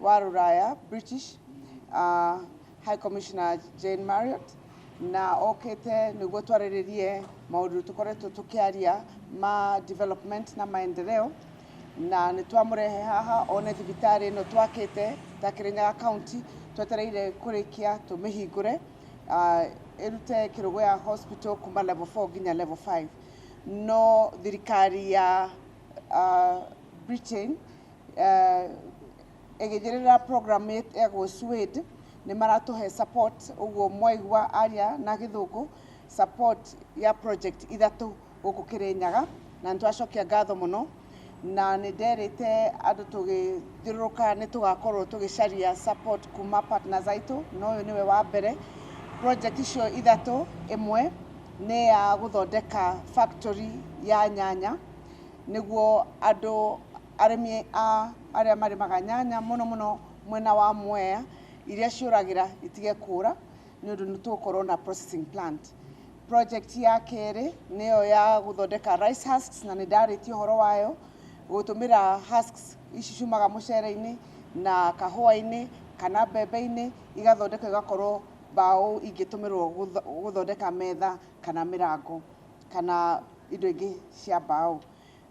wa ruraya british uh, high commissioner jane marriott na okite niguo twarĩrĩrie maũndũ tũkoretwo tũkĩaria ma development na maendeleo na nĩ twamũrehe haha one thibitarĩ ĩno twakĩte ta kĩrĩnyaga county twetereire kũrĩkia tũmĩhingũre uh, ĩrute kĩrũgũ ya hospital kuma level 4 nginya level 5 no thirikari ya uh, britain ĩgĩthĩrĩra program ĩtagwo SWAID, nĩ maratũhe support ũguo mwaigua aria na gĩthũngũ, support ya project ithatũ gũkũ Kĩrĩnyaga, na nĩ tũracokia ngatho mũno, na nĩ nderĩte andũ tũgĩthiũrũrũka nĩ tũgakorwo tũgĩcaria support kuma partners aitũ, no ũyũ nĩwe wa mbere. Project icio ithatũ, ĩmwe nĩ ya gũthondeka factory ya nyanya, nĩguo andũ Arĩmi a arĩa marĩmaga nyanya mũno mũno mwena wa Mwea iria ciũragĩra itige kũũra nĩ ũndũ nĩ tũgũkorwo na processing plant. Project ya kerĩ nĩ ĩyo ya gũthondeka rice husks na nĩ ndarĩtie ũhoro wayo, gũtũmĩra husks ici ciumaga mũcere-inĩ na kahũa-inĩ kana mbembe-inĩ igathondekwo igakorwo mbaũ ingĩtũmĩrwo gũthondeka metha kana mĩrango kana indo ingĩ cia mbaũ.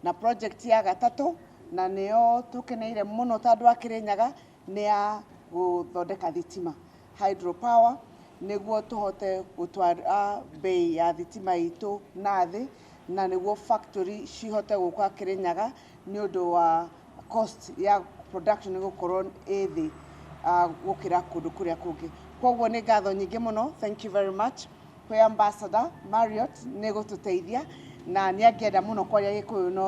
na project ya gatatũ na nĩyo tũkeneire mũno ta andũ a Kĩrĩnyaga nĩ ya gũthondeka thitima hydro power nĩguo tũhote gũtwara bei ya thitima itũ na thĩ na nĩguo factory cihote gũka Kĩrĩnyaga nĩ ũndũ wa cost ya production gũkorwo ĩ thĩ ah, gũkĩra kũndũ kũrĩa kũngĩ. Kwoguo nĩ ngatho nyingĩ mũno, thank you very much Kwĩ ambassador Marriot nĩĩgũtũteithia na nĩangĩenda mũno kwaria gĩkũyũ no